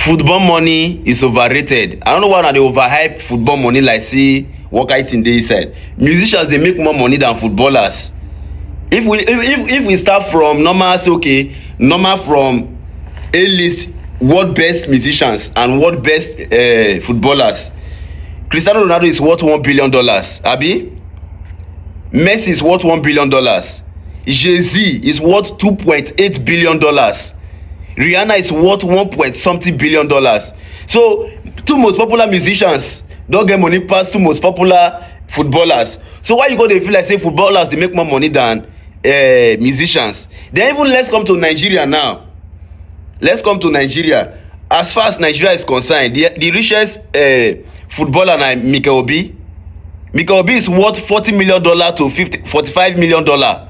Football money is overrated. I don't know why una dey overhype football money like say what kind thing dey inside. Musicians dey make more money than footballers. If we if if, if we start from normal say okay, normal from A list world best musicians and world best uh, footballers. Cristiano Ronaldo is worth one billion dollars. Abi? Messi is worth one billion dollars. Jay-Z is worth two point eight billion dollars. rihanna is worth one point something billion dollars so two most popular musicians don get money pass two most popular footballers so why you go dey feel like say footballers dey make more money than uh, musicians then even let's come to nigeria now let's come to nigeria as far as nigeria is concerned the, the richest uh, footballer na mikel obi mikel obi is worth forty million dollar to fifty forty-five million dollar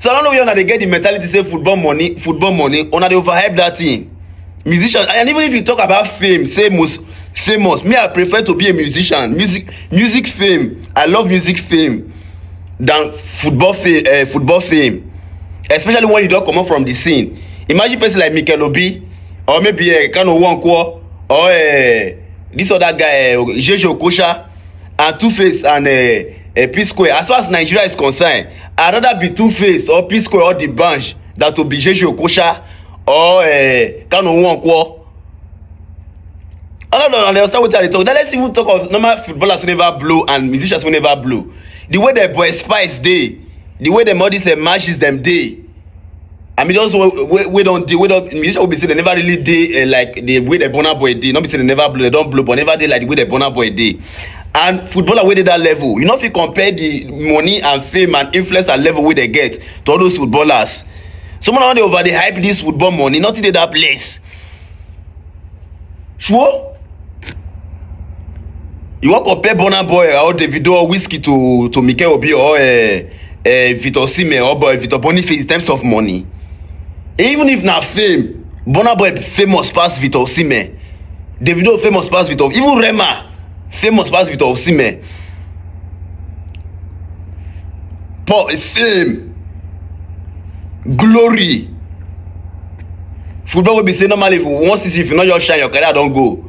so i don't know where una dey get the mentality say football money football money una dey overhype that thing musician and even if you talk about fame say most famous me i prefer to be a musician music music fame i love music fame than football fame uh, football fame especially when you don comot from the scene imagine person like mikel obi or maybe uh, kano nwankwo or uh, this other guy uh, jeje okocha and two face and uh, uh, p square as far as nigeria is concerned i rather be two face or p square or the bunch than to be jeje okosha or uh, kanu nwankwo all of them understand wetin i dey talk now let's even talk of normal footballers wey never blow and musicians wey never blow the way dem boy spice dey the way dem all these uh, matches dem dey I mean, just we, we don't do, we don't, musician will be saying they never really did uh, like the way the Bonner Boy did. Not be saying they never blow, they don't blow, but never did like the way the Bonner Boy did. And footballer wey dey that level, you know if you compare the money and fame and influence and level wey they get to all those footballers. Someone wey dey over dey hype this football money, nothing dey that place. Sure? You wan compare Burna Boy or Davido or Whiskey to to Mikel Obi or uh, uh, Victor Osimhen or Boy Victor Boniface in terms of money? Even if na fame, Burna Boy famous pass Victor Osimhen, Davido famous pass Victor, even Rema famous pass victor osimhen paul fame glory football wey be say normally if you wan see see if you no just shine your career don go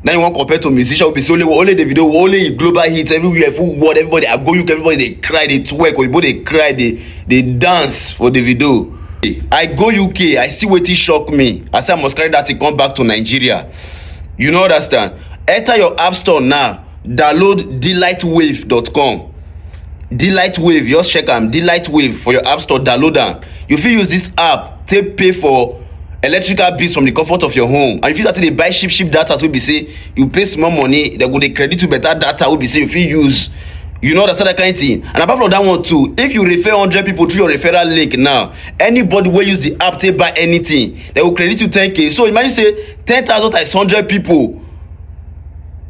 now you wan compare to musician wey be say only only the video only him global hits everywhere full world everybody i go uk everybody dey cry dey twerk oyibo dey cry dey dey dance for the video i go uk i see wetin shock me i say i must carry that thing come back to nigeria You no understand? Enter your app store now, download delightwave.com. Delight Wave, just check am. Delight Wave for your app store, download am. You fit use this app take pay for electrical bills from the comfort of your home and you fit start to dey buy cheap cheap data wey be say you pay small money dem go dey credit you better data wey be say you fit use you know understand that kind thing and apart from that one too if you refer hundred people through your referral link now anybody wey use the app take buy anything they will credit you 10k so imagine say 10,000 times 100 people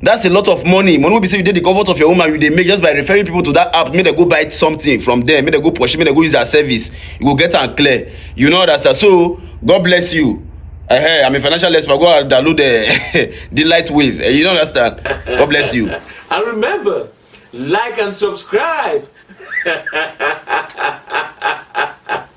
that's a lot of money money will be say you did the comfort of your home and you dey make just by referring people to that app make they go buy something from there make they go pursue make they go use their service you go get and clear you know that so god bless you uh -huh, i'm a financial expert go and download the the light wave uh, you don't understand god bless you and remember like and subscribe